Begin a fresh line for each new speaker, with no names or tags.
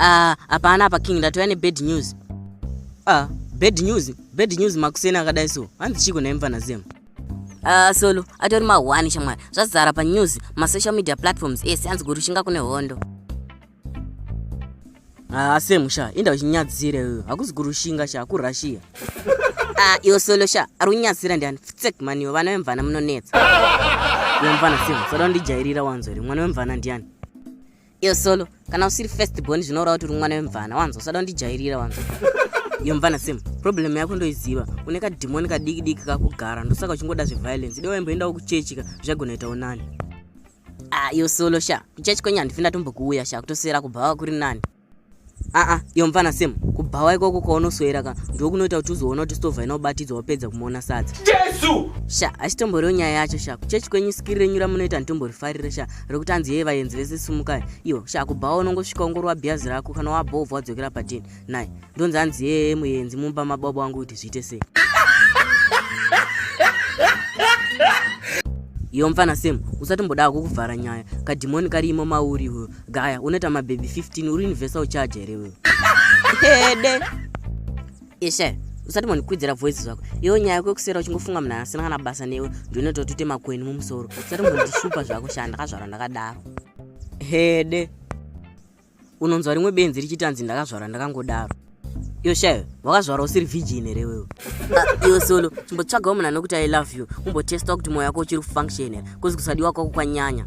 Ah, hapana apa king ndatouya nebad news ah, bad news bad news makuseni akadai so hanzi chiko nhai mfana zem ah, solo atori mahwani shamwari zvazara panews masocial media platforms ese hanzi kurushinga kune hondo ah, semu sha inda uchinyadzire uyo hakuzi kurushinga sha kurussia ah, iwo solo sha ari kunyadzira ndiani ftsek maniwo vana vemvana munonetsa iwe mfana semu sada undijairira wanzori mwana wemvana ndiani iyo solo kana usiri first born zvinoreva kuti uri mwana wemvana wanzo usada kundijairira wanzo iyo mvana sim problem yako ndoiziva une kadhimoni kadiki diki kakugara ndosaka uchingoda zveviolence ide waimboendawo kuchechika zvagona itawo nani a ah, iyo solo sha kuchechi kwenyu handifi ndatombokuuya sha kutosera kubhawa kuri nani aa iyo mfana sem kubhawa ikoko kwaunosoera ka ndokunoita kuti uzoona kuti stovha inobatidzwa wapedza kumuona sadza jesu sha hachitomboriwo nyaya yacho sha kuchechi kwenyu sikiri renyu ramunoita nditomborifarire sha rekuti anzi yee vayenzi vese sumukai iyo sha kubhawa unongosvika ungorwa bhiyazi rako kana wabhovha wadzokera padini nai ndonzi anzi yee muyenzi mumba mababa wangu kuti zviite sei iyo mfana sem usatombodawo kukuvhara nyaya kadhimoni kari imo mauri iwewe gaya unoita mabhebhi 15 uri universal charge here wewe hede ishe usati mondikwidzira voice zvako iyo nyaya yako yekusera uchingofunga munhu asina kana basa newe ndinoita kuti makweni mumusoro usati mondishupa zvako shaa ndakazvarwa ndakadaro hede unonzwa rimwe benzi richitanzi ndakazvarwa ndakangodaro iyo shayo wakazvarwa usiri virgin here wewe ah, iyo solo chimbotsvagawo munhu anokuti i love you umbotesta kuti moyo wako uchiri kufunction here kozi kusadiwa kwako kwanyanya